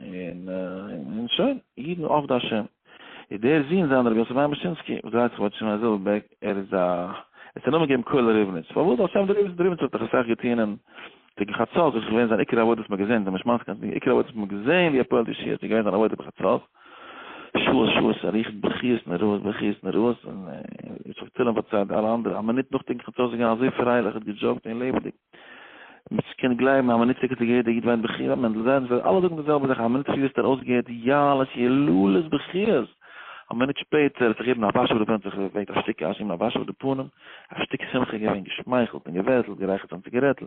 און און שוין, אידן עובדי השם. איז דער זון זיין דער רבי יוסף מאיר מאשינסקי, וואס דרייט זיך באצי מיין זעלבע בעק, ער איז א, עס האט א נאמען געגעבן קהלה ריבניץ, פארוואס על שם דער ריבניץ, דער ריבניץ האט דאך אסאך געטון אין קעגן חצות, דאס איז געווען זיין עיקר עבודה וואס מ'האט געזען, דער משמעות קען זיין, עיקר עבודה וואס מ'האט געזען ווי ער פועל'ט ישיעות, איז געווען זיין עבודה בחצות, שעות שעות ער ריכט בכיות נוראות בכיות נוראות, און ער האט זיך צילם פארציילט אלע אנדערע, א מינוט נאכדעם חצות איז געווען אזוי פרייליך, ער האט געדזשאוקט און לעבעדיג. מיט שכן גלייבן א מינוט ציקער צו יעדע איד וויינט בכי ביי מענדל זיידען ס'וועלן אלע זאגן די זעלבע זאך א מינוט צו ווערסטו ארויסגעהערט יעלות יללות בכיות א מינוט שפעטער האט זיך יעדן א וואש אויף די פענט זיך געוועקט א שטיק אש אים א וואש אויף די פנים א שטיק שמחה געווען געשמייכלט און געווערטלט גערייכערט זיין ציגערעטל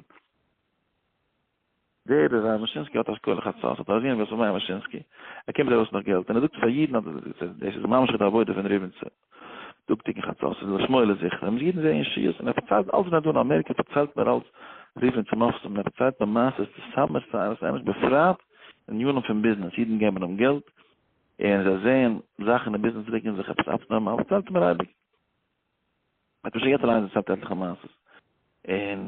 ווער איז ר' מאשינסקי האט אשכול לחצות האט אזיען ווער ס'איז מר מאשינסקי ער קומט ארויס נאך געלט און ער זאגט פאר יעדן אז דאס איז ממש די עבודה פון ריבניצער דאגטיגן חצות ס'איז לשמאלה זיכער ווען אידן זעען ישועות און ער פארציילט אלץ ווען ער איז דא אין אמעריקע פארציילט מיר אלץ ריבניצער מופתים און ער פארציילט מיר מעשה'ס צו סאמע שערות אמת בפרט אין עניינים פון ביזנעס אידן געבן אים געלט און זיי זעען זאכן אין ביזנעס רוקן זיך עפעס אפנארמאל פארציילט מיר אייביג ער האט מיר שוין געהערט אליינס דערציילט עטליכע מעשה'ס און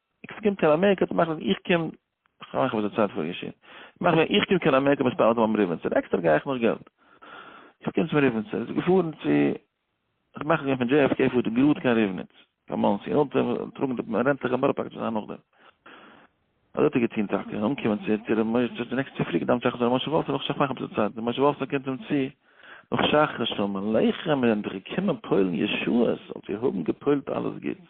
איך קום קיין אמעריקע צו מאכן, איך קום, איך מאך וואס די צייט פאר געשען, איך מאך ווען איך קום קיין אמעריקע מספר אלטע מאמע ריבניצער, עקסטער גיי איך נאך געלט, איך קום צום ריבניצער, איז געפארן צו, איך מאך ווען פון JFK פארט ער גראד קיין ריבניץ, קיין מאנסי, און אונטער טראגן די רענטליכע מערב פאקעט וואס זיי האבן נאכדעם. אזוי האט ער געטון טאקע, אנקומען צו צו ר' משה צו די נעקסטע צופרי געדאוונט שחרית ר' משה וואלפסאן נאך שחרית מאכן אביסל צייט, ר' משה וואלפסאן קומט אים צו, נאך שחרית, שלום עליכם, מיר זענען דאך געקומען פועל'ן ישועות, זאלט איר האבן געפועלט אלעס גוטס.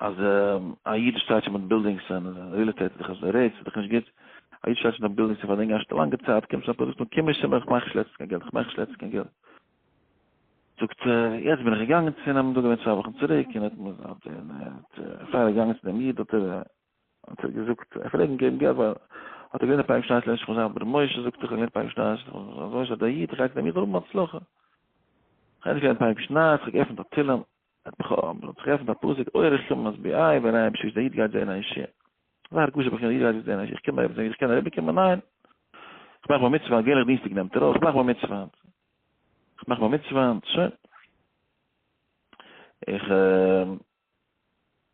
אז א איד שטייט שוין מיט בילדינגס און ריעל עסטעיט איז דאך אזוי רעיטס איז דאך נישט גוט א איד שטייט שוין מיט בילדינגס פאר לענגער א לאנגע צייט קומט שוין פאזיצן קום איך שוין איך מאך נישט לעצט קיין געלט איך מאך נישט לעצט קיין געלט זאגט יעצט בין איך געגאנגען צו נעם דא געווען צוויי וואכן צוריק און האט מיר האט פאר געגאנגען צו דעם איד האט ער האט ער געזאגט ער פרעגן געבן געלט ווייל האט ער געלערנט פאר שטייט לעש חוזר בר מויש זאגט איך געלערנט פאר שטייט אזוי שטייט דער איד גייט דעם איד רוב מצלחה איך געלערנט פאר שטייט איך געפנט א תילם האט מיך האט מיך געטרעפט ביי פסוק אויער איך קום אז ביי איי ווען איי דער איד גייט זען א אישי זיי הרגוש איך גיי זען א אישי איך קום אויב איך קען אריבער קומען ניין איך מאך בר מצוה גיי איך דינסטאג נעמט ער אויך איך מאך בר מצוה איך מאך בר מצוה שוין איך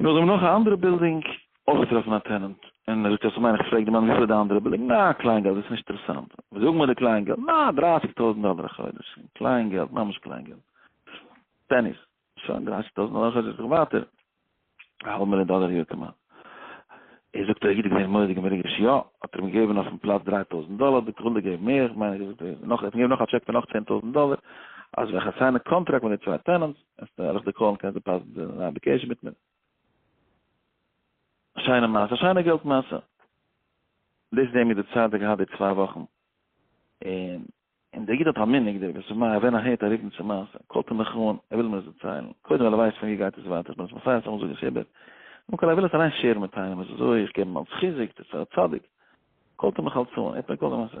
און אויך זעמיר נאך א אנדערע בילדינג אויך געטראפן א טענענט, און ער זאגט אז מיין איך פרעג די מאן וויפיל איז די אנדערע בילדינג, נא קליין געלט דאס נישט אינטערעסאנט, וואס זאג מיר די קליין געלט, נא דרייסיג טויזענט דאלער א חודש, קליין געלט ממש קליין געלט, פעניס, שוין דרייסיג טויזענט דאלער א חודש זיך ווייטער, א האלב מיליאן דאלער א יאר כמעט, ער זאגט אויך גוט געזען מוראדיגע מרוגש יא, האט ער מיר געגעבן אויפן פלאץ דרײַ טויזענט דאלער, ביטע וויל דער געבן מער, איך מיין איך האט ער געזאגט נאך ער האט מיר געגעבן נאך א טשעק פון נאך צען טויזענט דאלער, אז ווען איך אסיין א קאנטראקט מיט די צוויי טענענטס, אז דער הלכת קאלן קען זיי פאסן זיי זענען אבי קעשע מיט מיר א שיינע מעשה א שיינע געלט מעשה דאס זעהן מיר די צייט די געהאט די צוויי וואכן און און דער איד האט א מנהג דער וואס מא ווען ער הערט א רופן צו מעשה קאלט ער מיך אן ער וויל מיר עס דערציילן קודם ווייל ער ווייסט פון ווי גייט עס ווייטער איך בין עס מסיים סתם זאגן חיבור קודם כל ער וויל עס אליין שערן מיט איינעם עס איז אזוי איך געב אים אלס חיזוק דאס איז פאר א צדיק קאלט ער מיך אלס אן ער האט מיר געקאלט די מעשה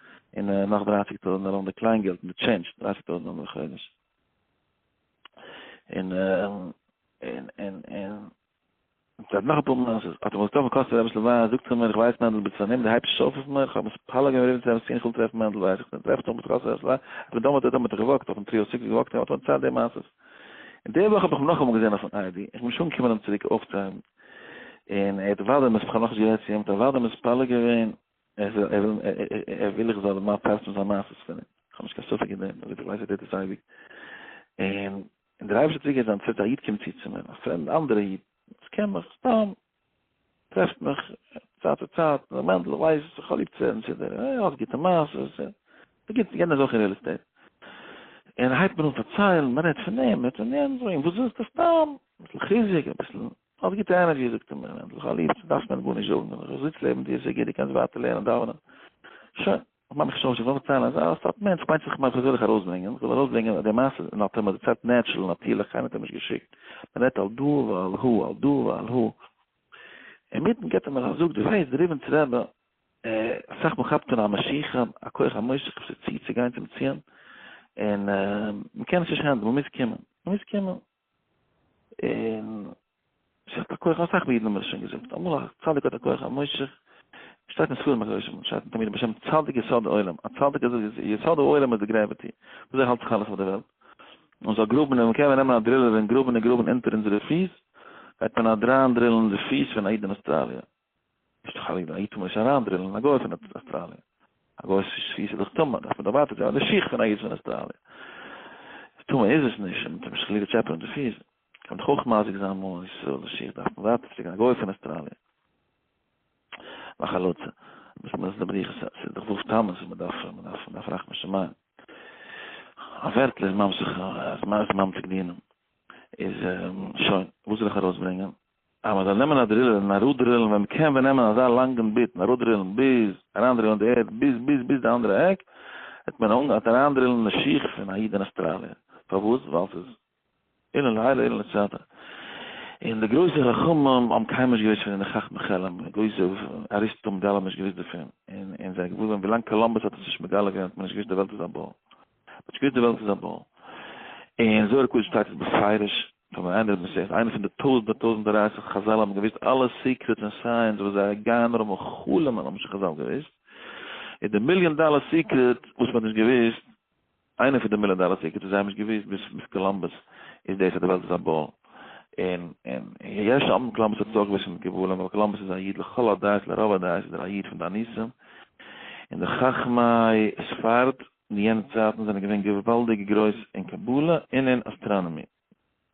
און נאך דרײַסיק טויזענט ארום די קליין געלט מיט טשענדזש, דרײַסיק טויזענט ארום די חודש. און און און און זייט נאך אפאר מעשות, אז וואס טאמער קאסט ער אביסל וויין, זאגט צו מיר איך ווייס מענדל ביסט פארנומען די הייבסט שויף אויף מיר, איך האב עס פארלאגען און רעדן צו אים סין איך וויל טרעפן מענדל ווייס איך טרעף טאמער קאסט ער אביסל וויין, אבער דאמאלט האט ער מיך געוואקט אויפן טריאו סיקס געוואקט און האט מיר צייט די מעשות. און די וואך האב איך אים נאכאמאל געזען אויפן איי די, איך בין נישט אנגעקומען אים צוריק אויפצוהייבן, און ער האט וואדען מספ כ'האב נאכנישט גערעדט צו אים האט ער וואדען מספלג געווען, ער זאל, ער זאל, ער וויל איך זאל מיין פאסטן זיין מעשות פון אים, כ'האב נישט קיין ספק אין דעם, אזוי ווי איך ווייס ער טוט דאס אייביג, און און דער אייבערשטער האט צוגעהערט זיין צייט, א איד קומט צו צו מיר, א פרעמד אנדערע איד, וואס קען מיך סתם, טרעפט מיך צייט צו צייט, ר' מענדל איך ווייס, איך האב ליב צו הערן צו דיר, ער האט גוטע מעשות, ער איז גוט, יענער איז אויך אין ריעל עסטעיט, און ער הייבט מיר אן פארציילן, מען רעדט פון דעם, מען רעדט פון יענעם, זאג איך אים, וואס ווילסטו סתם, אביסל חיזוק, אביסל האסט גוטע ענערדזשי זאגט ער מיר, ענדליך אלי' יעצט דארפסטו מיר גארנישט זאגן, ענדליך איך זיץ לעבן דיר סיי גוט דו קענסט ווייטער לערנען דאווענען, שוין, איך מאך מיך שלומיש איך וויל פארציילן אז אז סטארט מענטש מיינט זיך מיין איך זאל זיך ארויסברענגען, איך זאל ארויסברענגען די מעשה און האט ער מיר דערציילט נעטשרעל נאטירליך קיינער האט אים נישט געשיקט, מען רעדט על דא ועל הא על דא ועל הא, אינמיטן געט ער מיר א זאג די וועסט די ריבינס רעבע אסאך מען כאפט אן א משיכה א כח המושך כפ ס צי צו גיין צום ציון און מען קען עס נישט הענדלען מען מוז קומען מען מוז קומען. און ס'האט א כח, אסאך אידן האבן עס שוין געזאגט אמאל, א צדיק האט א כח, א מושך, שטייט אין ספרים הקדושים, שטייט אין תמיד בשם צדיק יסוד העולם, א צדיק איז די יסוד העולם איז די גרעוויטי, וויאזוי האלט זיך אלעס אויף די וועלט, און זאל גראבן און מ'קען נעמען א דרילער און גראבן און גראבן אונטער אונזערע פיס, גייט מען אדריין דרילן די פיס פון א איד אין אוסטראליע. נישט חלילה, א איד טאר מען נישט אריינדריללן א גוי פון אסטראליע. א גוי'ס פיס איז דאך טמא, דארף מען דערווייטערט ווערן די שיך פון א איד פון אסטראליע. טמא איז עס נישט, מ'טאר נישט חלילה טשעפענען די פיס. קען מען דאך אויך מזיק זיין מאמען ישראל, די שיך דארף מען ווייטער שיקן א גוי פון אסטראליע. מחלוטע. וואס מ'איז די בריחה? ס'איז דאך וואלף טעמעס וואס מ'דארף, מ'דארף, מ'דארף רחמי שמים. א ווערטל איז ממשיך, אז מ'איז ממתיק דינם. איז שוין, וואס זאל איך ארויסברענגען? אז מען זאל נעמען א דרילער און אראפדרילן ווען מען קען ווען נעמען אזא לאנגן ביט און אראפדרילן ביז אריינדרילן די ערד ביז ביז ביז די אנדערע עק וועט מען אנגעהאט אריינדרילן די שיך פון א איד אין אסטראליע פארוואס ווייל ס'איז אילן לילה אילן לצאת און די גרויסע חכמים האבן קיינמאל נישט געוואוסט פון די חכמי חלם און גרויסע אריסטו האבן גאלאם נישט געוואוסט דערפון און און זיי האבן געוואוסט ווען ווילאנג קאלאמבוס האט עס נישט מגלה געווען האט מען נישט געוואוסט די וועלט איז א באל. באט שפירט די וועלט איז א באל. אין זוהר הקדוש שטייט עס בפירוש, פאר ווען איינער האט געזוכט, איינער פון די טויזנט ביי טויזנט דרייסיג חזל האבן געוואוסט אלע סיקרעטס און סייענס וואס זיי גייען נאר האבן חלומ'ן האבן נישט חזל געוואוסט, איז די מיליאן דאלער סיקרעט וואס מ'האט נישט געוואוסט, איינער פון די מיליאן דאלער סיקרעטס וואס זיי האבן נישט געוואוסט ביז ביז קאלאמבוס, איז דאס אז די וועלט איז א באל. און און יש האמרים קאלאמבוס האט עס אויך געוואוסט מיט גבולים, אבער קאלאמבוס איז א איד לכל הדעות לרוב הדעות איז ער א איד פון די ניסים, און די חכמי ספרד אין יענע צייטן זענען געווען געוואלדיג גרויס אין קבלה און אין אסטראנאמיע.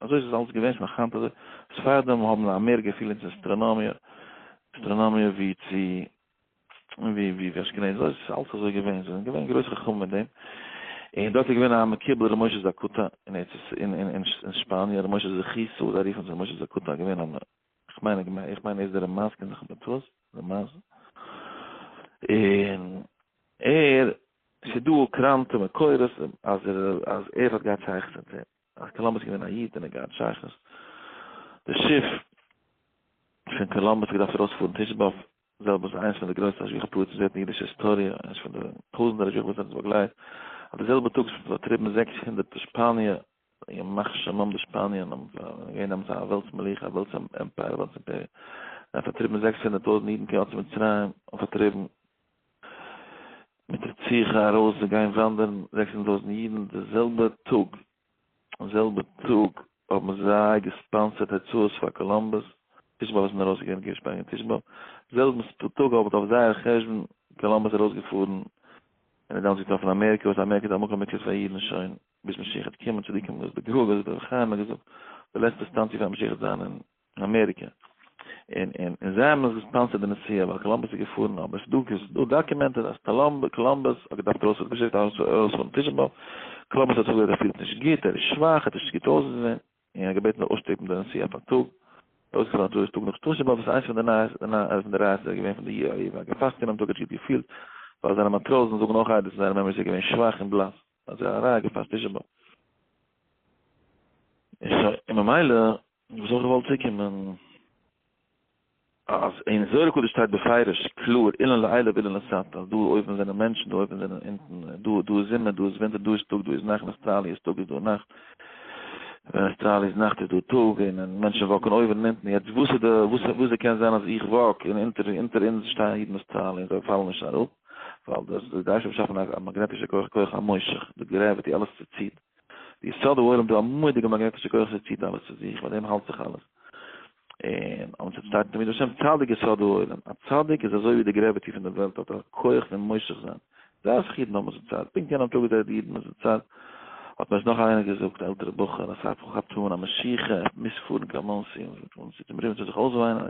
אזוי איז עס אלץ געווען, שוין היינט אזוי. ספרדים האבן א מער געפיל אין צו אסטראנאמיע, אסטראנאמיע ווי צו ווי ווי אשכנזים. אזוי איז עס אלץ אזוי געווען. זיי זענען געווען גרויס חכמים אין דעם. און דארט איז געווען א מקובל ר' משה זאקוטא אין ארץ ישראל אין שפאניע, ר' משה זכותו, זיי רופן זיך משה זאקוטא, געווען א איך מיין איך מיין איך מיין איז דער מאסק אין זיך מיט וואס דער מאסק אין ער שדו קראנטע מקורות אז ער אז ער האט געהאט שייכות מיט זיי אז קאלאמבוס געווען א איד און ער געהאט שייכות די שיף פון קאלאמבוס געדארפט ארויספארן תשב אב זעלב איז איינס פון די גרויסע השגחה פרוץ וואס ווערט אין אידישע היסטאריע איינס פון די טויזנטער השגחה וואס האט עס באגלייט אט די זעלבע טאג איז פארטריבן זעקס הונדערט שפאניע ימח שמם די שפאניער האבן געווען האבן זיי א וועלטס מלוכה א וועלטס עמפייער א וועלטס אימפעריע זיי האבן פארטריבן זעקס הונדערט טויזנט אידן קיין ארץ מצרים און פארטריבן מיט רציחה ארויס זיי גייען וואנדערן זעקס הונדערט טויזנט אידן די זעלבע טאג די זעלבע טאג האבן זיי געספאנסערט הוצאות פאר קאלומבוס תשב ב וואס איז ארויסגעגאנגען קיין שפאניע תשב ב זעלבן טאג האט אויף זייער חשבון קאלומבוס ארויסגעפארן און איז דעמאלטס געטראפן אמעריקע וואס אמעריקע איז א מקום מקלט פאר אידן שוין ביז משיח וועט קומען צדיקם דאס די גאולה איז דורך חיים האט געזאגט די לעצטע סטאנציע פאר משיח וועט זיין אין אמעריקע אין אין אין זיי האבן עס געספאנסערט די נסיעה ווייל קאלאמבוס איז געפארן אבער עס דא עס דא דאקומענטעד אז קאלאמב קאלאמבוס האט געדארפט ארויס האט געשיקט ארויס ארויס פון פישן באט קאלאמבוס האט זאגט ער פילט נישט גוט ער איז שוואך ער האט נישט גוט אויסגעזען און ער געבעטן אויסשטופן די נסיעה אויף א טאג אויסגעפאלן טאג איז טאג נאך שטאשע באט וואס איינס פון די נייעס די נייעס פון די רייז איז ער געווען פון די יאיר וואגן פאסט אין דעם טאג האט גוט געפילט ווייל זיינע מאטראזן זאגן אויך איידער זיינע מעמערס איז געווען שוואך און בלאס אזוי אריין געפאסט תשעה באב. און שוין, און ממילא, וואס האב איך געוואלט צוקומען, אז אין זוהר הקדוש שטייט בפירוש קלאר אילן לעילא ואילן לסתר, דא אויבן זענען מענטשן, דא אויבן זענען אונטן, דא דא איז זומער, דא איז ווינטער, דא איז טאג, דא איז נאכט, אין אוסטראליע איז טאג, איז דא נאכט, ווען אוסטראליע איז נאכט איז דא טאג, און און מענטשן וואקן אויבן און אונטן, יעצט וואס איז די, וואס איז, וואס איז קען זיין אז איך וואק, און אונטער, אונטער אונז שטייען אידן אין אוסטראליע און זיי פאלן נישט אראפ? ווייל דאס דאס גייסט באשאפן א מאגנעטישע כח כח המושך די גרעוויטי אלעס צו ציט די יסוד העולם דא א מודיגע מאגנעטישע כח צו ציט אלעס צו זיך מיט דעם האלט זיך אלעס און אונז האט שטייט תמיד השם צדיק יסוד העולם א צדיק איז אזוי ווי די גרעוויטי פון די וועלט האט א כח פון מושך זיין דאס איך אידן האבן זיצייט פונקט יענעם טאג איז די אידן זיצייט האט מיר עס נאך איינער געזאגט א עלטערע בחור אז איך האב געהאט אן א משיכה איך מוז פארן קיין מאנסי און זיך אומרוען צו זיך אויסוויינען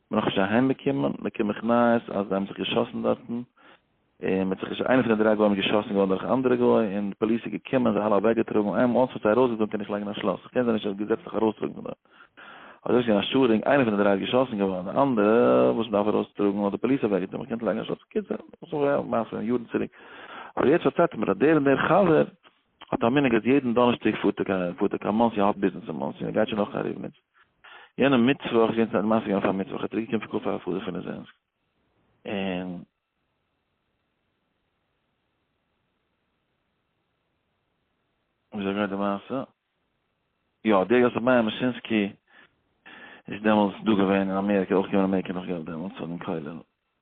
בין איך שוין אהיימגעקומען, באקום איך נייעס אז זיי האבן זיך געשאסן דארטן, און מ'האט זיך, איינער פון די דריי גוים איז געשאסן געווארן דורך א אנדערע גוי, און די פאליס איז געקומען, זיי אלע אוועקגעטראגן, איין מאל ס'וועט זיי ארויסגעזאגן קען איך לייגן א שלאס, איך קען זיי נישט געזעצליך ארויסטראגן פון דארט. אזוי איז געווען א שאדינג, איינער פון די דריי איז געשאסן געווארן, די אנדערע וואס מ'דארף ארויסטראגן האט די פאליס אוועקגעטראגן, מ'קען נישט לייגן א שלאס, בקיצור, דאס איז א מעשה פון יארן צוריק. אבער יעצט פארציילט ער מיר אז דער און דער חבר האט א מנהג אז יעדן דאנערשטאג פארט ער קיין מאנסי, ער האט ביזנעס אין מאנסי, און ער גייט שוין אויך קיין ריבניץ, יענעם מיטוואך געווען צו א מעשה געווען פאר מיטוואך ער האט צוריק געקומען פון קאווע פאר א חדש פון ליזענסק און וויאזוי גייט די מעשה יא דער יוסף מאיר מאשינסקי איז דעמאלטס דא געווען אין אמעריקע אויך געווען אין אמעריקע נאך געלט דעמאלטס פאר דעם כולל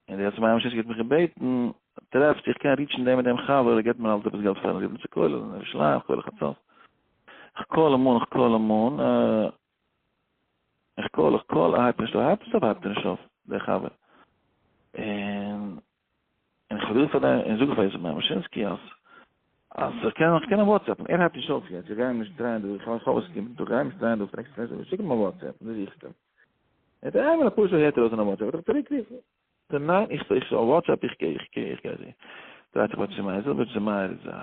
און די עצי מים שישקע האט מיך געבעטן, טרעפסט איך קען ריטשן דעם און דעם חבר, ער געבט מיר אלץ עפעס געלט פארן רירן צו כולל, אין ירושלים, כולל חצות. איך קאל אים אן, איך קאל אים אן, אה, איך קאל, איך קאל, ער הייבט נישט אויף, ער הייבט נישט אויף, ער הייבט נישט אויף, דער חבר. און, און איך האב געזאגט פאר דעם, און זאג איך פאר עצי מים שישקע אז, אז איך קען, איך קען אים וואטסעפן, ער הייבט נישט אויף יעצט, איך גיי אים נישט דרייען דא, איך האב עס געגעבן, איך גיי אים נישט דרייען דא, פרעגסט פון עצי מים, שיק אים א וואטסעפ, דא זוכסט אים. ער האט איינמאל אפאר שעה הערט ער אויס אין א וואטסעפפ וועט ער צוריק רופן. זאג ניין איך איך אויף וואטסעפפ איך גיי איך גיי איך גיי זעהן. דרייט זיך בעטשי מאיר זאג בעטשי מאיר איז א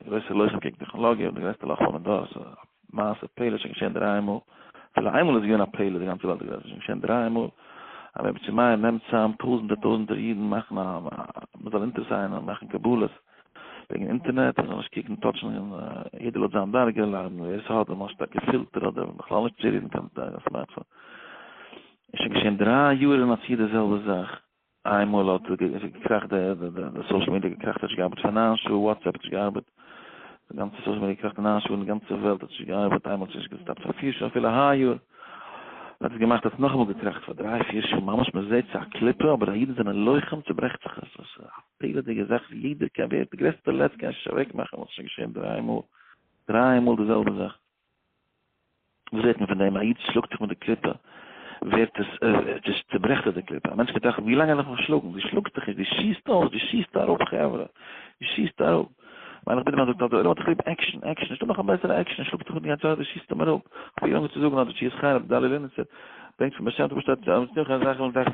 גרויסע לוחם קעגן טעכנאלאגיע און די גרעסטע לאך פארן דור סא מעשה פלא שוין געשען דריי מאל אפילו איין מאל איז געווען א פלא די גאנצע וועלט איז געווען שוין געשען דריי מאל אז בעטשי מאיר נעמט צאם טויזענטער טויזענטער אידן מאכן א מזאל אונטערסיינען און מאכן קבלות. וועגן אינטערנעט, איך זאל נישט קוקן טאטשן, יעדער לויט זיין דרגה, ליידן ווער עס האט, למשל א געפילטער אדער בכלל נישט צו רירן קיין סמארטפאון. איז שוין געשען דריי יאר און אפי' די זעלבע זאך, איינמאל האט געקראכט די סאושעל מידיע געקראכט האט נישט געארבעט פאר נײַן שעה, וואטסעפפ האט נישט געארבעט, די גאנצע סאושעל מידיע געקראכט פאר נײַן שעה און די גאנצע וועלט האט נישט געארבעט, איינמאל האט עס נישט געסטאפט פאר פֿיר שעה, אפילו היי יאר האט עס געמאכט האט עס נאכאמאל געקראכט פאר דריי פיר שעה, ממש מען זעט ס'איז א קליפה אבער די אידן זענען לוחם צוברעכט זיך עס. פלא'דיגע זאך ווי יעדער קען ווערט די גרעסטע לץ קען נישט אוועק מאכן וואס שוין געשען דריי מאל דריי מאל די זעלבע זאך וואס ווערט מען פון דעם א איד שלאגט זיך מיט די קליפה ווערט עס דאס צוברעכט די קליפה א מענטש קען טראכטן ווי לאנג וועל איך נאך שלאגן די שלאגסט דיך נישט די שיסט אויס די שיסט אראפ חברה די שיסט אראפ מיין איך בין דער דאקטאר דער עולם האט זיך ליב עקשן עקשן נישטא נאך א בעסערע עקשן שלאגט זיך מיט די גאנצע זאך די שיסט אים אראפ ווי לאנג צו זאגן אז די שיסט חרב דאלי לינצער ברענגט פון באשעמט אויף שטאט אז מ'טוט נישט קיין זאך און דארף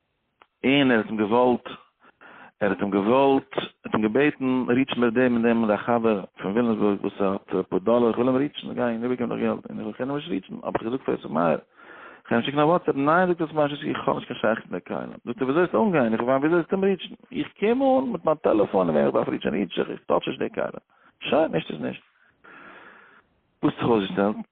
און ער האט אים געוואלט ער האט אים געוואלט האט אים געבעטן ריטשן ביי דעם און דעם א חבר פון וויליאמסבורג וואס האט אפאר דאלער איך וויל אים ריטשן איך גיי איבער געבן דאס געלט און איך קען אים נישט ריטשן האב איך געזאגט פאר יוסף מאיר איך אים שיקן א וואטסעפ ניין זאגט יוסף מאיר איך האב נישט קיין שייכות מיט די קהלים זאגט ער ווי אזוי וועסטו אנגיין איך ווייס ווי אזוי זאלסטו אים ריטשן איך קום אן מיט מיין טעלעפאן און וועם איך דארף ריטשן ריטש איך איך טאטש נישט די קהלים שוין נישט איז נישט וואס האט זיך אויסגעשטעלט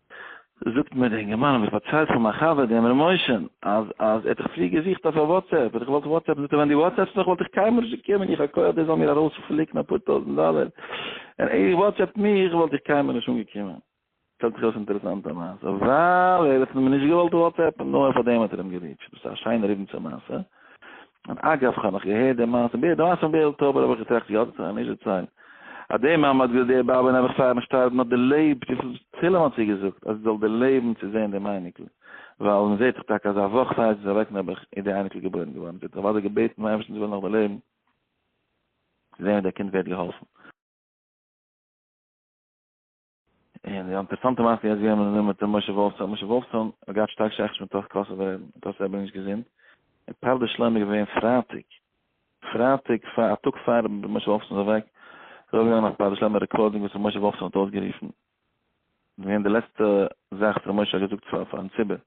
זאגט מיר דער אינגערמאן האב איך פארציילט פאר מיין חבר דעם ר' משה'ן אז אז ער האט זיך פריער געזוכט אויף א וואטסעפפ האט ער געוואלט וואטסעפפן זאגט ער ווען די וואטסעפסט מיך וואלט איך קיינמאל נישט געקומען איך האב כח דער זאל מיר ארויספליקן אפאר טויזנט דאלער און ער וואטסעפט מיך וואלט איך קיינמאל נישט אנגעקומען שטעלט זיך אויס אינטערעסאנטע מעשה ווייל ער האט אים נישט געוואלט וואטסעפן נאר פאר דעם האט ער אים געריטשט דאס איז א שיינער איבן צו מעשה און אגב כ'האב נאך געהערט די מעשה ב ה, די מעשה מבעלז טאבער האב איך געטראכט יא דאס האט ער נישט דערציילט, אז די מאמע האט געזאגט די באבע נעבעך פארן שטארבן האט דערלעבט וויפיל תהלים האט זי געזאגט אז זי זאל דערלעבן צו זען דעם אייניקל, ווייל מען זעט דאך טאקע אז א וואך פאר זי איז אוועק נעבעך איז די אייניקל געבוירן געווארן, זי האט אוודאי געבעטן פון אייבערשטן זי זאל נאך דערלעבן צו זען ווי דער קינד ווערט געהאלפן. און די אינטערעסאנטע מעשה יעצט געהערט מיט דעם מיט דעם משה וואלפסאן, משה וואלפסאן האט געהאט שטארק שייכות מיט דאס קאסע ווערן, דאס איז אבער נישט געזונט. און פאר די שלום איז געווען פרייטאג, פרייטאג פאר א טאג פאר משה וואלפסאן איז אוועק, איז אויפגעגאנגען א פאר די שלום רעקארדינג וואס משה וואלפסאן האט אויסגערופן, געווען די לעצטע זאך וואס ר' משה האט געזאגט פאר פארן ציבור,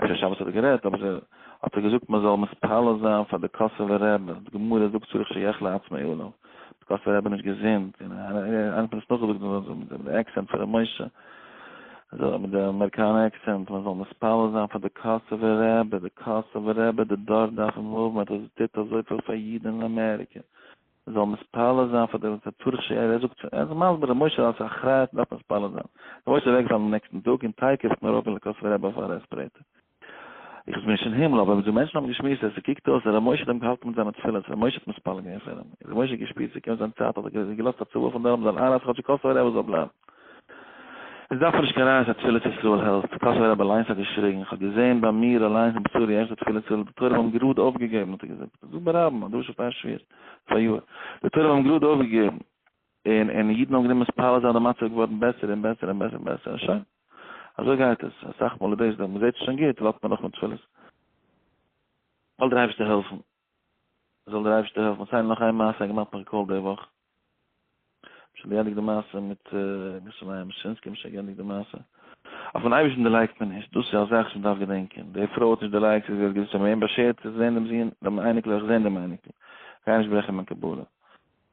אפשר שבת האט ער גערעדט, אבער האט ער געזאגט מ'זאל מתפלל זיין פאר די קאסובער רב, אז די גמרא זאגט צריך שיחלה עצמו עליו, די קאסובער רב איז נישט געזונט, און איינער האט עס נאכגעזאגט מיט די עקסענט פון ר' משה, אזוי מיט די אמעריקאנע עקסענט, מ'זאל מתפלל זיין פאר די קאסובער רב, די קאסובער רב, די דור דארף אים האבן, ער האט טוט אזויפיל פאר אידן אין אמעריקע. מ'זאל מתפלל זיין פאר די תצורך ש ר, ער זאגט ער איז מסביר ר' משה אלס אחריות מ'דארף מתפלל זיין, ר' משה איז אוועקגעפאלן דעם נעקסטן טאג און טיי קעסטן ארויף אין לעקאסווע רעבע אויף א רעספרעיטער. איך בין נישט אין הימל אבער דו מענטשן האבן געשמועסט אז ס'קוקט אויס אז ר' משה האט אים געהאלטן מיט זיינע תפילות, ר' משה האט מתפלל געווען פאר אים, ר' משה האט געשפירט ס'קומט זיין צייט האט ער געלאזט א צוואה פון דארט מ'זאל איינרייסן כאטשיג קאסובער רעבע זאל בלייבן. עס דארף מען נישט קיין רייעס אז תפילת ישראל העלפט, קאסובער רב אליינס האט געשריגן, איך האב געזען ביי מיר אליינס אין בשרי איך זאג תפילת ישראל, די תורם האבן גראד אויפגעגעבן האט ער געזאגט, איך זאג ברבים, א דרשה פאר שווער, פאריאר, די תורם האבן גראד אויפגעגעבן, און און אידן האבן גענומען מתפלל זיין די מצב איז געווארן בעסער און בעסער און בעסער און בעסער און שוין, אזוי גייט עס, אסאך מאל איז דאס די, מען זעט עס שוין גוט, ווארט מען נאך מיט תפילות, זאל דער אייבערשטער העלפן זאל דער אייבערשטער העלפן סיי נאך איין מעשה געמאכט נאך געקאלט די וואך שוין געענדיגט די מעשה מיט געשריי משינסקי נישט שוין געענדיגט די מעשה אויף אן אייבערשטן דערלייגט מען נישט דאס איז א זאך וואס מען דארף געדענקען די פרוי האט נישט דערלייגט זי האט געזאגט זי האט מיר אים באשערט צו זען דעם זון דעם אייניקל אויך זען דעם אייניקל גיי נישט ברעכן מיין קבלה.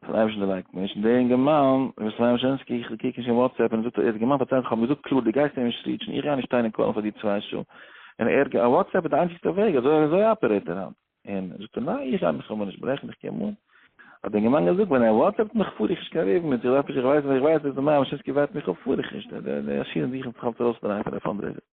כ'זעה נישט די לייק נישט, דער אינגערמאן וואס ס'זענען שוין עסקן, איך קוק נישט אין וואטסעפפ און ער זאגט ער האט געמיינט פארציילן, כ'האב אים געזאגט קלאר דו גייסט אים נישט ריעטשן, איך גיי נישט שטיין און קאלן פאר דיר צוויי שעה, און ער גיי, וואטסעפפ איז די איינציגסטע וועג, אזוי אזוי אפערעיט ער היינט, און זאגט ער ניין איך גיי מיך אמאל נישט ברעכן איך קום אן, האט דער אינגערמאן געזאגט ווען ער וואטסעפפט מיך פאר איך נישט קיין רעוו מיט זיך, עפעס איך ווייס ווען איך ווייס אז דער מר. אושינסקי ווארט מיך אפ פאר איך נישט, די די עשירים זוכן זיך אלץ ארויס פון א פאנדרעיזער.